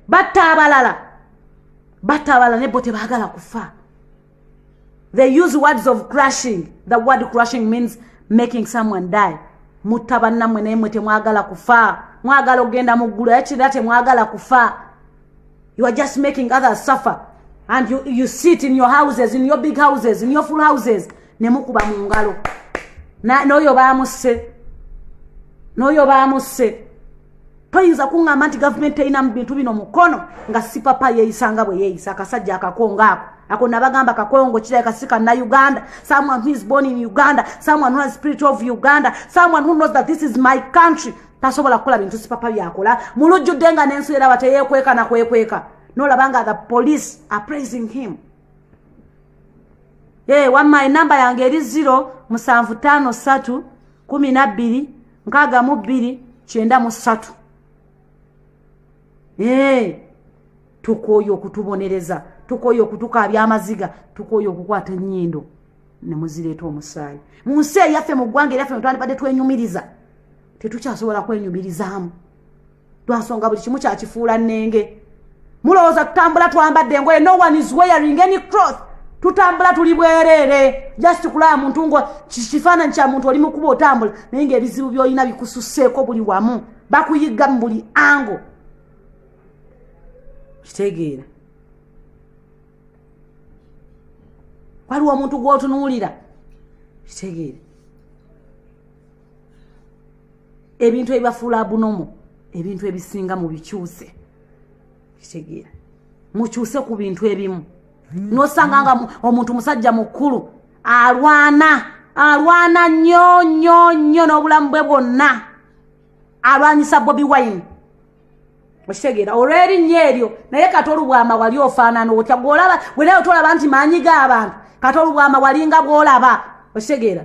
batta abalala batta abalala nebbo tebagala kufa they use words of crushing the word crushing means making someone die mutta bannamwe naye mwe temwagala kufa mwagala okugenda mu ggulu yakirira temwagala kufa you are just making others suffer and you, you sit in your houses in your big houses in your full houses nemukuba mu ngalo n'oyo baamusse n'oyo baamusse toyinza kuŋŋamba nti gavumenti terina mu bintu bino mukono nga sipapa yeeyisa nga bwe yeeyisa akasajja akakongo ako ako nabagamba kakongo kirabika si kanna uganda someone who is born in uganda someone who has spirit of uganda someone who knows that this is my country tasobola kukola bintu sipapa byakola mulujjudde nga n'ensi eraba teyeekweka na kwekweka nolaba nga the police are praising him ee eh, wamma enamba yange eri ziro musanvu ttaano ssatu kumi na bbiri nkaaga mu bbiri kyenda mu ssatu ee eh, tukooye okutubonereza tukooye okutukaabya amaziga tukooye okukwata ennyindo ne muzireeta omusaayi mu nsi eyaffe mu ggwanga eryaffe netwandibadde twenyumiriza tetukyasobola kwenyumirizaamu lwansonga buli kimu kyakifuula nnenge mulowooza tutambula twambadde engoye no one is wearing any croth tutambula tuli bwereere just kulaba muntu nga kifaananyi kya muntu oli mukuba otambula naye ngaebizibu byolina bikususeeko buli wamu bakuyigga mu buli ango kitegeera waliwo omuntu gwotunuulira kitegeere ebintu ebibafuula abunomu ebintu ebisinga mu bikyuse kitegeera mukyuse ku bintu ebimu nosanga nga omuntu musajja mukulu alwana alwana nnyo nnyo nnyo n'obulamu bwe bwonna alwanyisa bobi wine okitegeera olw'erinnya eryo naye kati olubwama wali ofaanana otya gwolaba gwenaye otolaba nti maanyi g'abantu kati olubwama walinga bwolaba okitegeera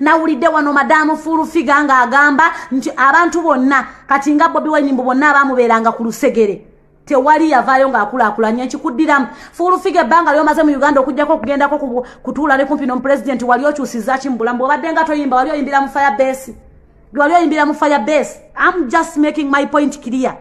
nawulidde wano madamu fulufiga ng'agamba nti abantu bonna kati nga bobi wine mbu bonna abaamubeeranga ku lusegere tewali yavaayo ng'akulaakulanya ekikuddiramu fulufiga ebbanga lyomaze mu uganda okugyako okugendako kutuula ne kumpi nomupulezidenti wali okyusizaki mu bulamu bwobadde nga toyimba wali oyimbira mu fire base wali oyimbira mu fire base am just making my point clear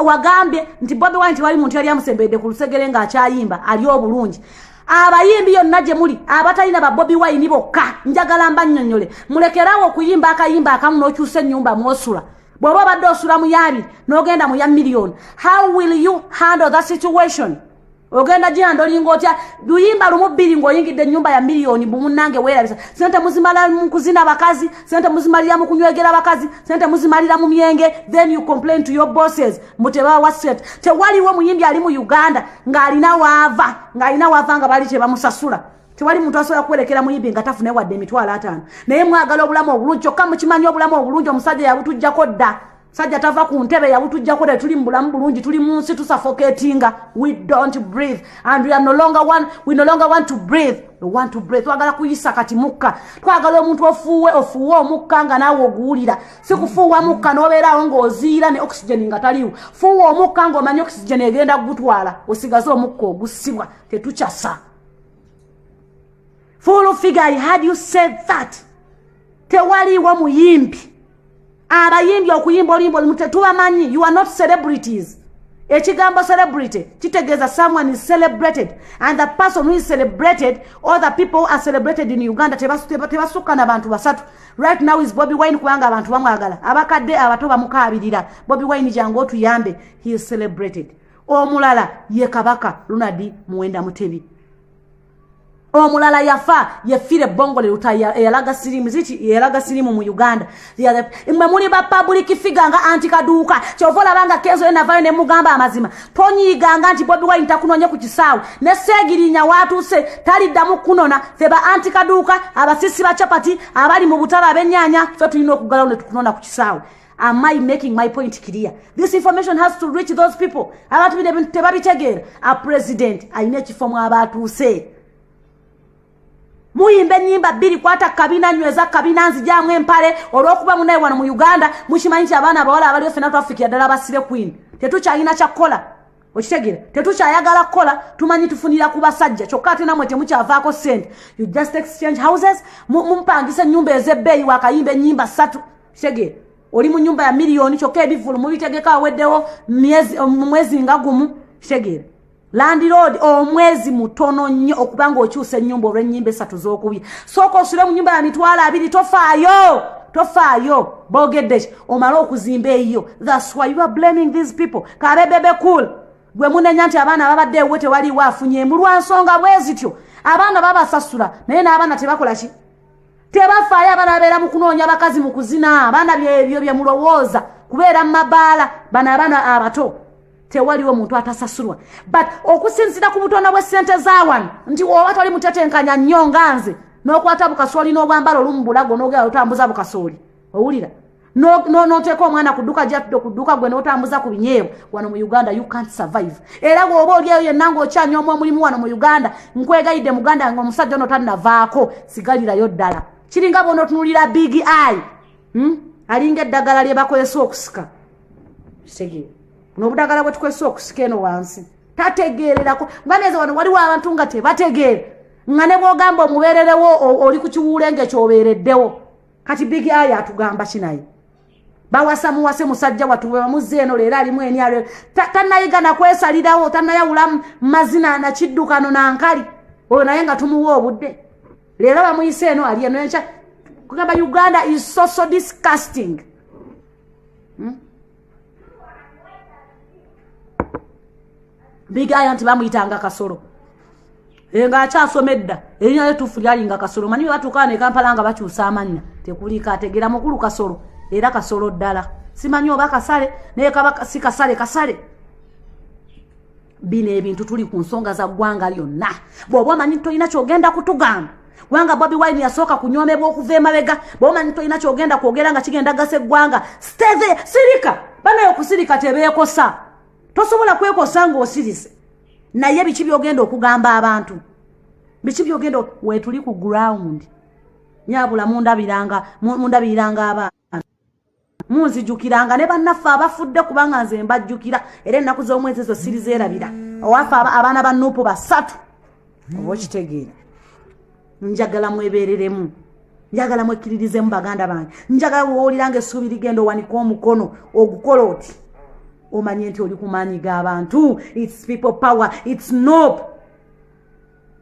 wagambye nti bobi wine tewali muntu yali amusembedde ku lusegere ng'akyayimba ali obulungi abayimbi yonna gye muli abatalina ba bobi wine bokka njagala mba nnyonnyole mulekerawo okuyimba akayimba akamu n'okyusa ennyumba mwosula bw'oba obadde osula mu yaabiri n'ogenda mu ya miliyoni how will you handle the situation ogenda gyeyanda olinga otya luyimba lumu bbiri ng'oyingidde ennyumba ya miliyoni bumunange weerabisa sente muzimala mu kuzina bakazi sente muzimalira mu kunywegera bakazi sente muzimalira mu myenge then you complain to your bosses mutebawa sente tewaliwo muyimbi ali mu uganda ng'alina waava ng'alina waava nga bali tebamusasula tewali muntu asobola kuwerekera muyimbi nga tafune wadde emitwalo ataano naye mwagala obulamu obulungi kyokka mukimanyi obulamu obulungi omusajja yabutujjako dda sajja tava ku ntebe yabutujjako ne tuli mu bulamu bulungi tuli mu nsi tusafoketinga we don't breathe and we, are no longer one, we no longer want to breathe we want to breathe twagala kuyisa kati mukka twagala omuntu ofuuwe ofuuwe omukka nga naawe oguwulira si kufuuwa mukka n'obeeraawo ng'oziira ne oxygen nga taliwo fuuwa omukka ng'omanyi oxygen egenda kugutwala osigaze omukka ogusibwa tetukyasa full figure i had you said that tewaliiwo muyimbi abayimbi okuyimba oluyimba olumu tetubamanyi you are not celebrities ekigambo celebrity kitegeeza someone is celebrated and the person who is celebrated all the people who are celebrated in uganda tebasukka na bantu basatu right now is bobi wine kubanga abantu bamwagala abakadde abato bamukaabirira bobi wine jangu otuyambe he is celebrated omulala ye kabaka lunadi muwenda mutebi omulala yafa yefira ebbongo liruta eyalaga sirimu ziti eyalaga sirimu mu uganda mwe muli ba public figa nga anti kaduuka kyova olabanga kenzo ye navayo ne mugamba amazima tonyiiganga nti bobi wine takunoonye ku kisaawe ne seegirinya waatuuse taliddamu kunona fe ba anti kaduuka abasisi ba chapati abali mu butala abenyaanya fe tulina okugalawo ne tukunona ku kisaawe Am I making my point clear? This information has to reach those people. Abantu bino ebintu tebabitegeera. A president alina ekifo mw'abaatuuse. Muyimba ennyimba bbiri kwata kabina nyweza kabina nzijaamu empale olw'okuba munaye wano mu Uganda mukimanyi nti abaana abawala abaliyo ffena twafikira ddala abasibe queen. Tetukyalina kya kukola. okitegera tetukyayagala kukola tumanyi tufunira ku basajja kyokka ate namwe temukyavaako sente you just exchange houses mupangisa enyumba ezebbeeyi wakayimba enyimba ssatu kitegere oli mu nyumba ya miliyoni kyokka ebivulu mubitegeka aweddewo mwezi nga gumu kitegere landiroodi omwezi mutono nnyo okuba nga okyusa enyumba olwenyimba esatu zokubye sooka osule mu nyumba ya mitwalo abiri tofaayo tofaayo bogedde ki omale okuzimba eyiyo thats why you are blaming these people kabe bebe cool gwe munenya nti abaana babadde ewe tewaliwo afunye mulwa nsonga bwezityo abaana babasasula naye n'abaana tebakola ki tebafaayo abaana babeera mu kunoonya bakazi mu kuzina abaana byebyo bye mulowooza kubeera mu mabaala bano abaana abato tewaliwo muntu atasasulwa but okusinzira ku butonda bw'essente za wano nti woba toli mutetenkanya nnyo nga nze n'okwata bukasooli n'obwambala olumu bulago n'ogera lutambuza bukasooli owulira noteeka omwana ku dduka gyatudde ku dduka gwe notambuza ku binyeewo wano mu uganda you can't survive era bwoba olyeyo yenna ngaokyanyoomu omulimu wano mu uganda nkwegayidde muganda nga omusajja ono tannavaako sigalirayo ddala kiringa bona otunulira big eye hmm? alinga eddagala lye bakozesa okusika kitegeera nobudagala bwe tukozesa okusika eno wansi tategeererako nga neeza wano waliwo abantu nga tebategeera nga ne bwogamba omubeererewo oli ku kiwuule ngaekyobeereddewo kati big eye atugamba ki naye bawasa muwase musajja watu webamuzze eno leero alimu enyalo tanayiga nakwesalirawo tanayawula mazina nakiddukano nankali oyo naye nga tumuwa obudde leero bamuyise eno ali eno enkya kugamba uganda is so so disgusting hmm? bigaya nti bamuyitanga kasolo eh, nga akyasoma edda erinya lyetuufu lyalinga kasolo manyi bebatuukaa ne kampala nga bakyusa amannya tekuliika ategeera mukulu kasolo era kasolo ddala simanyi oba kasale naye kaba si kasale kasale bino ebintu tuli ku nsonga za ggwanga lyonna bw'oba omanyi tolina kyogenda kutugamba kubanga bobi wine yasooka kunyomebwa okuva emabega bw'oba omanyi tolina kyogenda kwogera nga kigenda gasa eggwanga steve sirika banaye okusirika tebeekosa tosobola kwekosa ng'osirise naye biki byogenda okugamba abantu biki byogenda wetuli ku ground nyabula mundabiranga mundabiriranga abaana munzijukiranga ne bannaffe abafudde kubanga nze mbajjukira era ennaku z'omwezi ezo sirizeerabira owaffe abaana ba nuupu basatu oba okitegeera njagala mwebereremu njagala mwekkiririzemu baganda bange njagala wowuliranga essuubi ligenda owanika omukono ogukola oti omanye nti oli kumaanyi g'abantu its people power its nop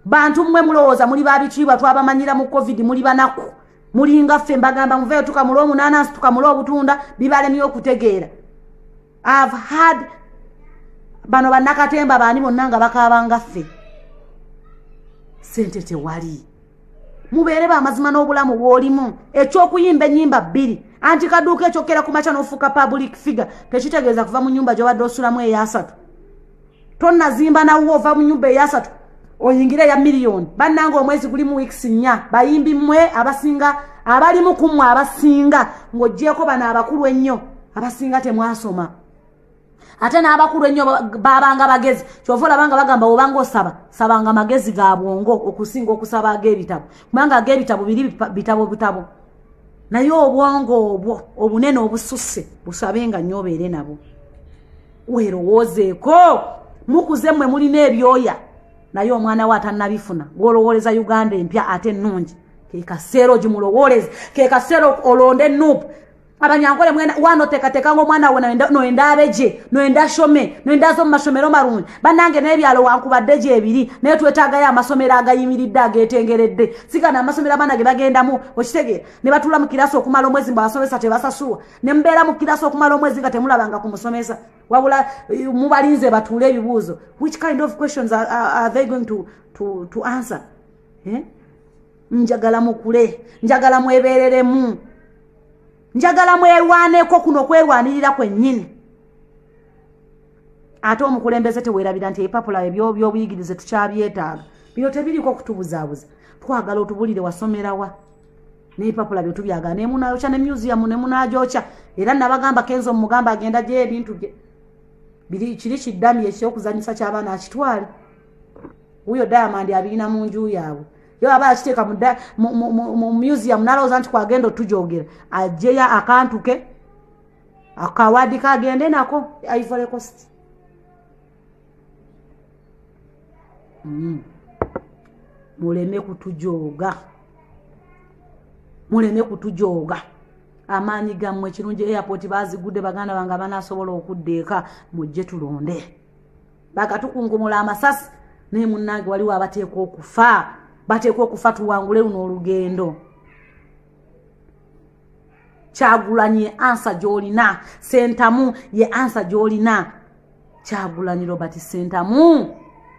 bantu mmwe mulowooza muli babitiibwa twabamanyira mu covid muli banaku mulinga ffe mbagamba muveyo tukamula omunaanansi tukamula obutunda bibalemye okutegeera I've had bano banakatemba baani bonna nga bakaabanga ffe sente tewali mubeere bamazima n'obulamu bwolimu ekyokuyimba enyimba bbiri anti kaduuka ekyokera ku makya n'ofuuka public figure tekitegeeza kuva mu nyumba gyobadde osulamu eyasatu tonazimba nawuwo ova mu nyumba eyasatu oyingire ya miliyoni bannanga omwezi guli mu wiks nnya bayimbi mmwe abasinga abalimu ku mmwe abasinga ng'ogyeko bano abakulu ennyo abasinga temwasoma ate n'abakulu ennyo babanga bagezi kyova olabanga bagamba obanga osaba sabanga magezi ga bwongo okusinga okusaba ag'ebitabo kubanga ag'ebitabo biri bitabo butabo naye obwongo obwo obunene obususse busabe nga nnyo obeere nabwo werowoozeeko mukuze mmwe mulina ebyoya naye omwana we atannabifuna gwolowooleza uganda empya ate ennungi kekaseera ogimulowooleze kekaseera olonde enuupu abanyankole mwena wano tekateka ngo mwana wona no enda abeje no enda shome no enda zo mashomero maruni banange ne byalo wanku badeje ebiri ne twetaga ya masomero agayimiridde agetengeredde sika na masomero abana ge bagenda mu okitege ne batula mu kirasi okumala omwezi mba basomesa tebasasuwa nemubeera mukirasa okumala omwezi nga temulabanga ku musomesa wabula eh, mubalinze batuule ebibuuzo which kind of questions are, are, are they going to, to, to answer eh? njagala mukule njagala mwebereremu njagala mwerwaneko kuno okwerwanirira kwennyini ate omukulembeze tewerabira nti ebipapula ebyobyobuyigirize tukyabyetaaga bino tebiriko okutubuzaabuza twagala otubulire wasomerawa n'ebipapula bye tubyagala ne munaayokya ne museum ne munaagyokya era nabagamba kenzo mugamba agenda gyeyo ebintu bye biri kiri kiddami ekyokuzanyisa ky'abaana akitwale wuyo diamond abirina mu nju yaabwe yo aba akiteeka mu museum nalowooza nti kwagenda otujoogera ajeyo akantu ke akawaadi kagende nako ivory cost mm. muleme kutujooga muleme kutujooga amaanyi gammwe kirungi airport bazigudde baganda bange abanasobola okudda eka mujje tulonde bakatukunkumula amasasi naye munnange waliwo abateekwa okufa bateekwa okufa tuwangule luno olugendo kyagulanyi ye ansa gyolina sentamu ye ansa gyolina kyagulanyi robert sentamu